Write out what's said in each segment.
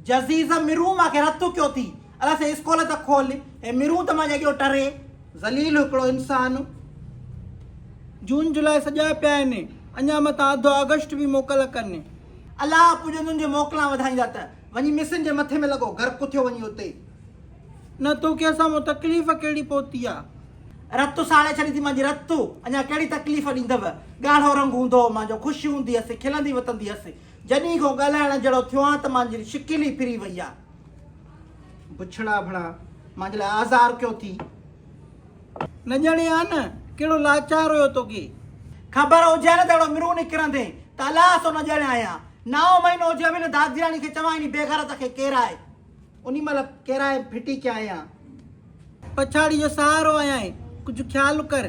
جزيز مرون مان کي رت ٿڪيو ٿي الله سائين اسڪول ته کول هي مرون ته مان جڳيو ٽري ذليل هڪڙو انسان. جون جولاء سڄا پيا آهن اڃا متان اڌ آگسٽ به موڪل ڪن. الله پڄن تنهنجي موڪلان وڌائيندا ته وڃي مصرين جي مٿي ۾ لڳو غرق ٿيو وڃي اتي. نه توکي اسان مان تڪليف ڪهڙي پهتي آ. رت ساڙي ڇڏي ٿي مانجي رت اڃا ڪهڙي تڪليف ڏيندو ڳاڙهو رنگ هوندو هو مانجو خوش هوندي هسي کلندي وتندي هسي جڏھين کان ڳالھائڻ جھڙو ٿيو آھيان ته مانجي شڪل ئي ڦري وئي آ. بڇڙا ڀلا مانجي لاء آزار ڪيو ٿي. نه ڄڻي آ نه ڪھڙو لاچار ھيو توکي. خبر ھجي ھا نه ته اھڙو مرون نڪرندين ته الاس او نه ڄڻيا ھيا. نائون مھينو ھجي ھا به نه دادياڻي کي چوان اھڙي بيغيرت کي ڪير آھي. انهي مهل ڪيرائي ڦٽي ڪيا آهيان. پڇاڙي جو سهارو آهيان. ڪجهه خيال ڪر.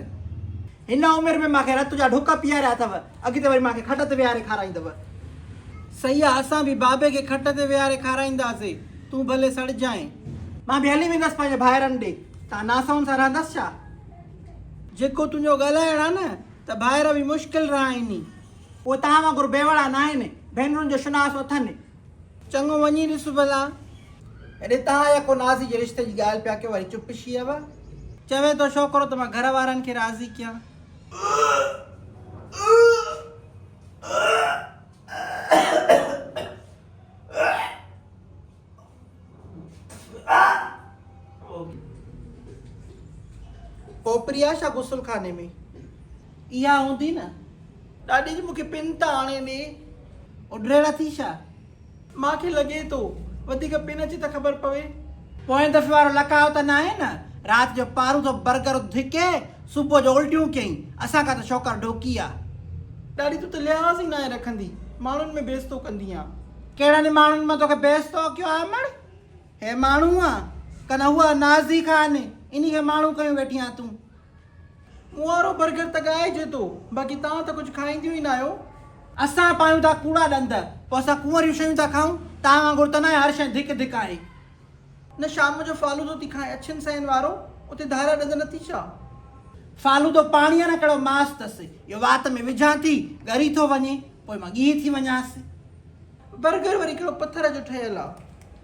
هن عمر ۾ مان کي رت جا ڍڪ پياريا اٿو. اڳتي وري مان کي کٽ تي ويهاري کارائيندو. سيء اسان به بابي کي کٽ تي ويهاري کارائينداسين. تون ڀلي سڙجانء. مان به هلي ويندس پنهنجي ڀائرن ڏي. تان ناسون سان رهندس ڇا؟ جيڪو تنهنجو ڳالهائڻ آهي نه ته ڀائر به مشڪل رهائيني. اهي توهان وانگر بيوڙا ناهن. ڀينرن جو شناس اٿن. چڱو وڃي ڏس ڀلا. اڙي تهان اها ڪو نازي جي رشتي جي ڳالهه پيا ڪيو وري چپ شيوا. چوي ٿو ڇوڪرو ته مان گهر وارن کي راضي ڪيان. پوپريا شا غسل خاني ۾. اها هوندي نه. ڏاڏي جي مون کي پن ته آڻي ڏي. اڏريل اٿئي ڇا؟ مان کي لڳي ٿو. وڌيڪ پن اچي ته خبر پوي. پوئين دفعي وارو لکاء ته ناهي نه. رات جو پاروٿو برگر اٿ ڌڪي صبح جو الٽيون ڪيئين. اسان کان ته شوڪر ڍوڪي آ. ڏاڏي تون ته لحاظ ئي ناهي رکندي. ماڻهن ۾ بيستو ڪندي آن. ڪهڙن ماڻهن مان توکي بيستو ڪيو آ مڙ. هي ماڻهو آ ڪن اهو آ نازي خان. انهي کي ماڻهو ڪيون ويٺي آن تون. مون وارو برگر ته ڳائجي ٿو، باقي توهان ته ڪجهه کائينديون ئي ناهيو. اسان پايون ٿا ڪوڙا ڏند، پوء اسان ڪنواريون شيون ٿا کائون، توهان وانگر ته ناهي هر شيء ڌڪ ڌڪ آهي. نه شام جو فالودو ٿي کائين اڇن سئين وارو، اتي ڌاريا ڏند نه ٿي ڇا؟ فالودو پاڻي آ نه ڪهڙو ماس اٿس، اهو وات ۾ وجهان ٿي، ڳري ٿو وڃي، پوء مان ڳيهي ٿي وڃانس. برگر وري ڪهڙو پٿر جو ٺهيل آ،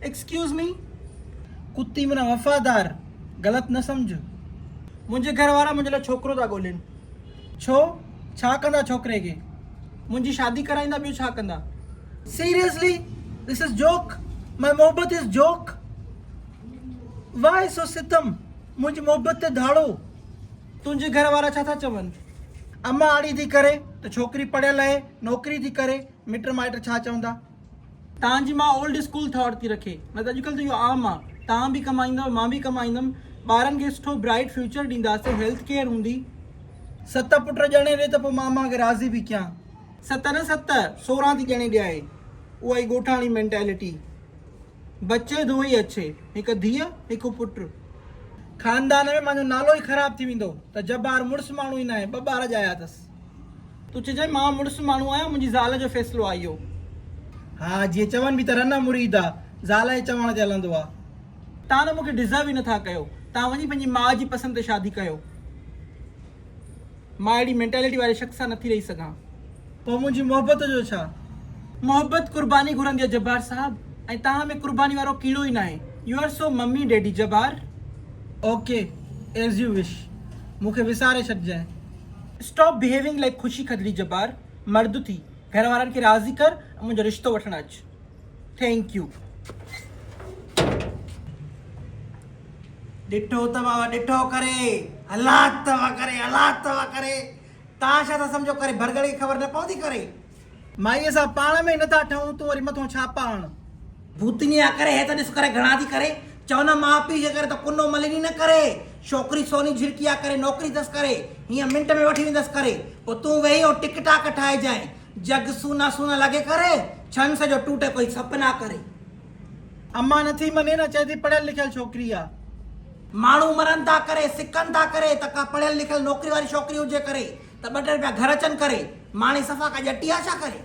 ايڪسڪيوز مي ڪتي منا وفادار غلط نه سمجھ منهنجي گهر وارا منهنجي لاء ڇوڪرو ٿا ڳولين ڇو ڇا ڪندا ڇوڪري کي منهنجي شادي ڪرائيندا ٻيو ڇا ڪندا سيريسلي ڌس از جوڪ ماء محبت از جوڪ واء سو ستم منهنجي محبت تي ڌاڙو تنهنجي گهر وارا ڇا ٿا چون امان آڙي ٿي ڪري ته ڇوڪري پڙهيل اهي نوڪري ٿي ڪري مٽ مائٽ ڇا چوندا. تانجي مان اولڊ اسڪول ٿاٽ ٿي رکي نه ته اڄڪلهه ته اهو عام آ توهان به ڪمائيندؤ مان به ڪمائيندم ٻارن کي سٺو برائيٽ فيوچر ڏينداسين هيلٿ ڪيئر هوندي. ست پٽ ڄڻي ڏي ته پوء ماما کي راضي به ڪيان. ست نه ست سورهان ٿي ڄڻي ڏيائين اها ئي ڳوٺاڻي مينٽيلٽي بچي دو هي اڇي هڪ ڌيء هڪ پٽ. خاندان ۾ مانجو نالو ئي خراب ٿي ويندو ته جبار مڙس ماڻهو ئي ناهي ٻه ٻار ڄايا اٿس. تون چئجانء مان مڙس ماڻهو آهيان، منهنجي زال جو فيصلو آهي اهو. ها، جيئن چون به ته رنه مريد آ، زال جي چوڻ تي هلندو آ. توهان ته مون کي ڊزرو ئي نٿا ڪيو، توهان وڃي پنهنجي ماء جي پسند تي شادي ڪيو. مان اهڙي مينٽالٽي واري شخص سان نٿي رهي سگهان. پوء منهنجي محبت جو ڇا؟ محبت قرباني گهرندي آ جبار صاحب ۽ توهان ۾ قرباني وارو ڪيڙو ئي ناهي. You are so mummy daddy Jabbar. Okay as you wish. مون کي وساري ڇڏجانء. اسٽاپ بهيوئنگ لائڪ خوشي کدڙي جبار مرد ٿي گهر وارن کي راضي ڪر ۽ منهنجو رشتو وٺڻ اچ ٿينڪ يو. ڏٺو ته بابا ڏٺو ڪري هلات ته وڪري هلات ته وڪري تان شا ٿا سمجهو ڪري ڀرڳڙ کي خبر نه پوندي ڪري. مائيء سان پاڻ ۾ نه ٿا ٺهون، تون وري مٿون ڇا پاء آڻ. ڀوتني آ ڪري هي ته ڏس ڪري گهڻا ٿي ڪري، چون ماء پيء جي ڪري ته ڪنو مليني نه ڪري، ڇوڪري سوني جهرڪي آ ڪري نوڪري اٿس ڪري، هينئن منٽ ۾ وٺي ويندس ڪري، پوء تون ويهي ۽ ٽڪ ٽاڪ ٺاهجانء، جڳ سونا سونا لڳي ڪري، ڇن سڄو ٽوٽي ڪوئي سپ نه آ ڪري. امان نه ٿي مڃين، چئي ٿي پڙهيل لکيل ڇوڪري آ. ماڻهو مرن ٿا ڪري، سڪن ٿا ڪري ته ڪا پڙهيل لکيل نوڪري واري ڇوڪري هجي ڪري، ته ٻه ٽي رپيا گهر اچن ڪري ماڻي صفا ڪا ڄٽي آ ڇا ڪري.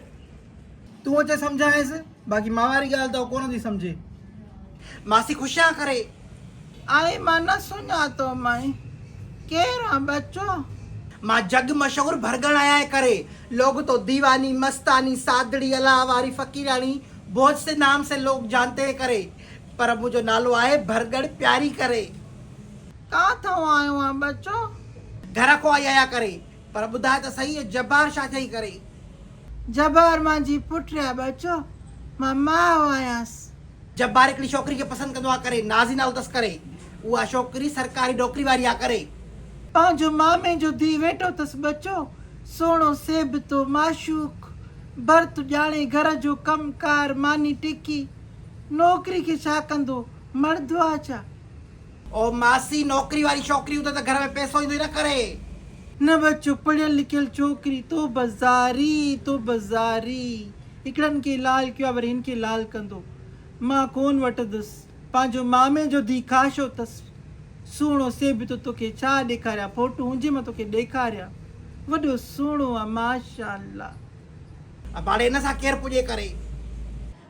تون اچي سمجهائينس باقي مان واري ڳالهه ته هو ڪونه ٿي سمجهي. ماسي خوش آ ڪري. آء مان نه سڃاتو مئي ڪير آ ٻچو. مان جڳ مشهور ڀرڳڻ آهيان اي ڪري لوگ تو ديواني مستاني سادڙي الله واري فقيراڻي بوجھ سي نام سي لوگ جانتي اي ڪري پر منهنجو نالو آهي ڀرڳڻ پياري ڪري. ڪاٿئون آيو آن ٻچو؟ گهر کان آئي آيا ڪري. پر ٻڌاء ته سهي اهي جبار ڇا ٿيئي ڪري؟ جبار مانجي پٽ آ ٻچو. مان ماء آهيانس. جبار هڪڙي ڇوڪري کي پسند ڪندو آ ڪري. نازي نالو تس ڪري. اها ڇوڪري سرڪاري نوڪري واري آ ڪري. پنهنجو مامي جو ڌيء ويٺو تس ٻچو. سهڻو سيبتو، معشوق، برت ڄاڻي، گهر جو ڪم ڪار، ماني ٽڪي. نوڪري کي ڇا ڪندو؟ مڙدو آ ڇا؟ او ماسي نوڪري واري ڇوڪري هوندي ته گهر ۾ پئسو ايندو ئي نه ڪري. نه بس چپ پڙهيل لکيل ڇوڪري تو بزاري تو بزاري هڪڙن کي لال ڪيو آ وري هن کي لال ڪندو مان ڪون وٽندس پنهنجو مامي جو ڌي کاشو تس سهڻو سي به تو توکي ڇا ڏيکاريان فوٽو هونجي مان توکي ڏيکاريان وڏو سهڻو آ ماشاءالله. اباڙي ان سان ڪير پڄي ڪري.